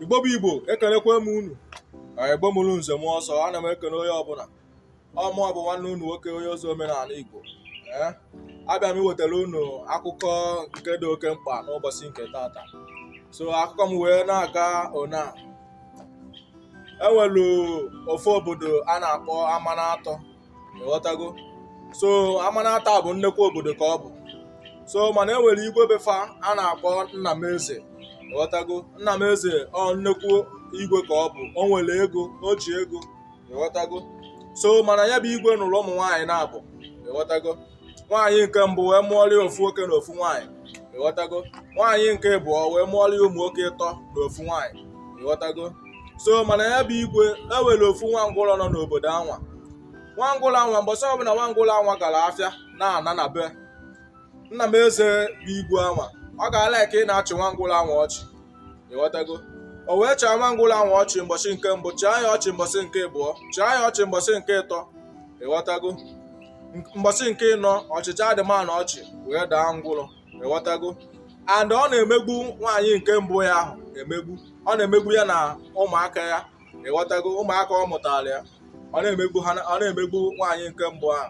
igbo bụ igbo ekelekwa m unu na igbo mụrụ nze mụọ ọzọ ana m ekele onye ọbụla ọ mụ bụ nwanne unu nwoke onye ozi omenala igbo ee eh? abịa m iwetara unu akụkọ nke dị oke mkpa n'ụbọsị nke tata so akụkọ m wee na-aga ọ na e nwelu ofu obodo a na-akpọ amanatọ ịghọtago so amanatọ bụ nnekwu obodo ka ọ bụ so mana e nwere igwe be fa a na-akpọ nna m eze ịghọtago nna m eze ọ nnekwu igwe ka ọ bụ o nwere ego o ji ego ịghọtago so mana ya bụ igwe nụrụ ụmụ nwaanyị naabọ ịghọtago nwaanyị nke mbụ wee mụọrọ ya ofu nwoke na ofu nwaanyị ịghọtago nwaanyị nke abụọ wee mụọrọ ya ụmụ nwoke ịtọ na ofu nwaanyị ịghọtago so mana ya bụ igwe e nwere ofu nwa ngwụrọ nọ n'obodo anwa nwa ngwụrọ anwa mbọsị ọbụla nwa ngwụrọ anwa gara afịa na-ana na be nna m eze bụ igwe anwa ọ ga-ala ka ị na-achị nwa ngwụrọ anwa ọchị ịghọtago o wee chịa nwa ngwụrọ anwa ọchị mbọsị nke mbụ chịa ya ọchị mbọsị nke abụọ chịa ya ọchị mbọsị nke ịtọ ịghọtago mbọsị nke ịnọ ọ chịchaa the man ahụ ọchị wee daa ngwụrọ ịghọtago and ọ na-emegbu nwaanyị nke mbụ ya ahụ emegbu ọ na-emegbu ya na ụmụaka ya ịghọtago ụmụaka ọ mụtara ya ọ na-emegbu ha ọ na-emegbu nwaanyị nke mbụ ahụ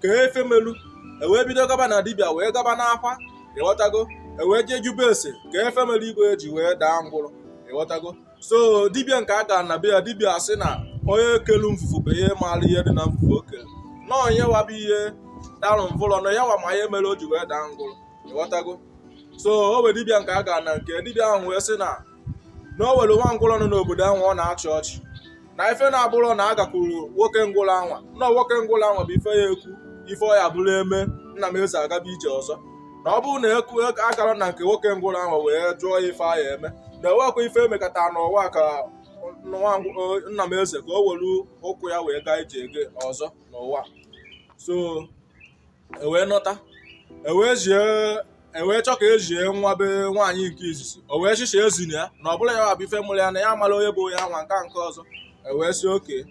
ka ife melu ewee bido gaba na dibịa wee gaba n'afa ịghọtago ewee jee jụbe ese ka ife melu igwe ji wee daa ngwụrọ ịghọtago so dibịa nke a gara na be ya dibịa asị na onye kelu mvuvu bụ ihe maara ihe dị na mvuvu o kelu na onye wa bụ ihe darụ mvụlọ na ya wa ma ihe mere o ji wee daa ngwụrọ ịghọtago so o wee dibịa nke a gara na nke dibịa ahụ wee sị na na o nwere nwa ngwụrọ nọ n'obodo anwa ọ na-achị ọchị na ife na-abụrọ na a gakwuru nwoke ngwụrọ anwa na nwoke ngwụrọ anwa bụ ife ya-ekwu ife ọ ya bụrụ eme nna m eze agaba ije ọzọ na ọ bụrụ na ekwu a gara na nke nwoke ngwụrọ anwa wee jụọ ya ife a ya-eme na enwekwa ife emekata n'ụwa ka nwa ngw- o- nna m eze ka o were ụkwụ ya wee gaa ije oge ọzọ n'ụwa so ewee nata ewee zie ewee chọọ ka e zie nwa be nwaanyị nke izizi o wee sị cha ezina ya na ọ bụla ya bụ ife mụrụ ya na ya amala onye bụ onye anwa nke nke ọzọ ewee sị okay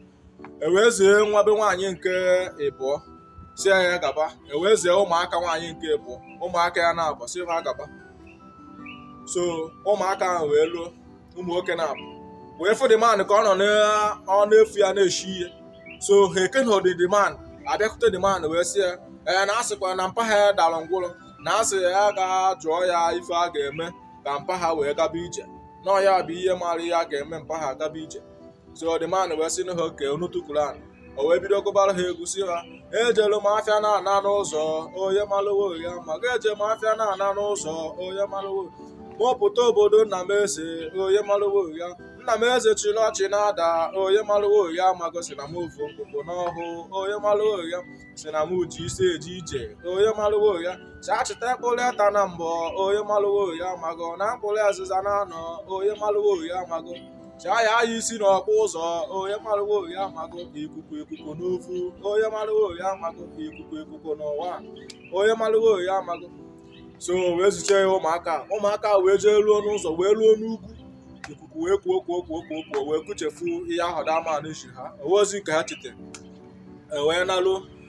ewee zie nwa be nwaanyị nke ịbụọ sị ya ya gaba ewee zie ụmụaka nwaanyị nke ịbụọ ụmụaka ya naabọ sị ha gaba so ụmụaka ahụ wee luo ụmụ nwoke naabọ wee fụ the man ka ọ nọ n'ọnụ efu ya na-eshi ihe so ha ekenọdị the man abịakwute the man wee sị ya ee na a sịkwa na mpa ha dara ngwụrọ na a sị ya ga jụọ ya ife a ga-eme ka mpa ha wee gaba ije na ọ ya bụ ihe mara ihe a ga-eme mpa ha gaba ije so the man wee sị na ha okay unu tukwuru ana o wee bido gụbara ha egwu sị ha ejelu m afịa na-ana n'ụzọ onye malụwo ya mago eje m afịa na-ana n'ụzọ onye malụwo mụ pụta obodo nna m eze onye malụwo ya nna m eze chịrị ọchị na-ada onye malụwo ya mago sị na m ofu mkpụkpụ n'ọhụ onye malụwo ya sị na m ji isi eje ije onye malụwo ya sị achịta mkpụrụ eta na mbọ onye malụwo ya mago na mkpụrụ azịza na anọ onye malụwo ya mago chaa ya aya isi n'ọkpụ ụzọ onye marụwo ya amago ikuku ikuku n'uvu onye marụwo ya amago ikuku ikuku n'ụwa onye marụwo ya amago so wee zichaa ụmụaka ụmụaka wee jee ruo n'ụzọ wee ruo n'ugwu ikuku wee kuo kuo kuo kuo kuo wee kuchefu ihe ahụ the man zi ha o nwezi nke ha chete wee naluo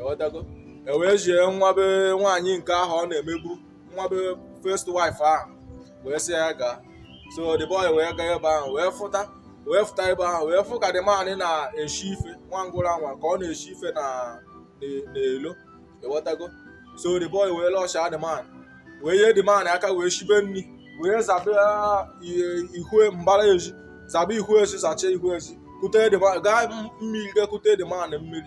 ewetago ewee jie nwa be nwaanyị nke ahụ ọ na-emegbu nwa be first wife ahụ wee sị ya gaa so the boy wee gaa ebe ahụ wee fụta wee fụta ebe ahụ wee fụ ka the man na-eshi ife nwa ngwụrọ anwa ka ọ na-eshi ife na n'elo ịghọtago so the boy wee lọsha the man wee yie the man aka wee shibe nri wee zabe ihue mbara ezi zabe ihu ezi zacha ihu ezi kute gaa mmiri ga kute the man mmiri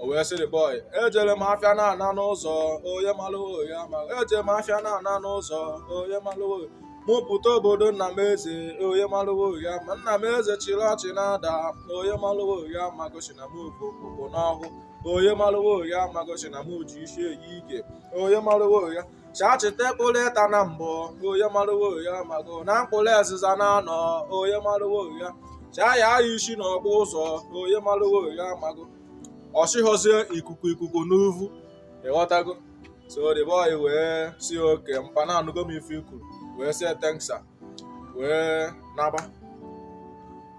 o wee sị the boy ejere m afịa na-ana n'ụzọ onye malụwo ya ma ejere m afịa na-ana n'ụzọ onye malụwo mụ pụta obodo nna m eze onye malụwo ya ma nna m eze chịrị ọchị na-ada onye malụwo ya mago sị na m bu okpukpo n'ọhụ onye malụwo ya mago sị na m ji isi eyi ike onye malụwo ya sị achịta mkpụrụ ịta na mbụ onye marụwo ya mago na mkpụrụ azịza na anọ onye marụwo ya chaa ya aya isi n'ọkpụ ụzọ onye marụwo ya mago ọ sịhọzi ikuku ikuku n'uvu ịghọtago so the boy wee sị okay mpa na anụgo m ife i kwuru wee sị ya thank sir wee naba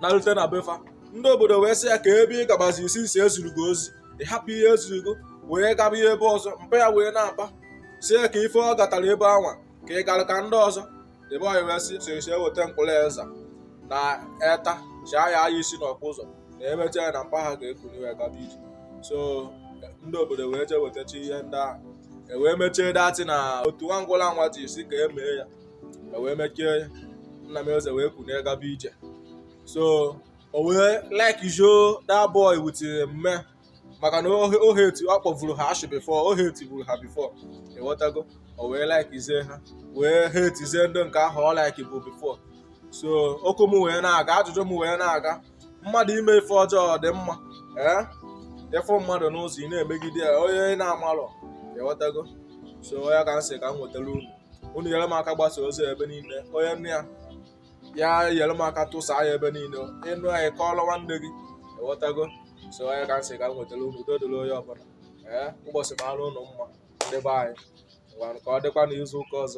narute na be fa ndị obodo wee sị ya kee ebe ị gabazi isi isi e ziri gị ozi ị hapụ ihe e ziri gị wee gaba ihe ebe ọzọ mpa ya wee na-aba sị kee ife ọ gatara ebe anwa ka ị gara ka ndị ọzọ the boy wee sị sị sị e weta mkpụrụ eza na eta chaa ya aya isi n'ọkpụ ụzọ na e mecha ya na mpa ha ga-ekuni wee gaba ije so ndị obodo wee jee wetacha ihe ndị ahụ e wee mechaa that thing otu nwa ngwụlọ anwa ji sị ka e mee ya e wee mechaa ya nna m eze wee kunie gaba ije so o wee likezie that boy with nne maka na o he o hate ọ kpọvuru ha ashị before o hatevuru ha before ịghọtago o wee likezie ha wee hatezie ndị nke ahụ ọ likebu before so okwu m wee na-aga ajụjụ m wee na-aga mmadụ ime ife ọjọọ ọ dị mma ee ịfụ mmadụ n'ụzọ ị na-emegide ya onye ị na-amalọ ịghọtago so ọ ya ka m sị ka m wetara unu unu nyere m aka gbasa ozi ebe niile onye nne ya ya nyere m aka tụsaa ya ebe niile ị nụ ya kọọrọ nwanne gị ịghọtago so ọ ya ka m sị ka m wetara unu udo dịrị onye ọbụla ee ụbọchị mara unu mma ndị be anyị ngwanụ ka ọ dịkwa n'izu ụka ọzọ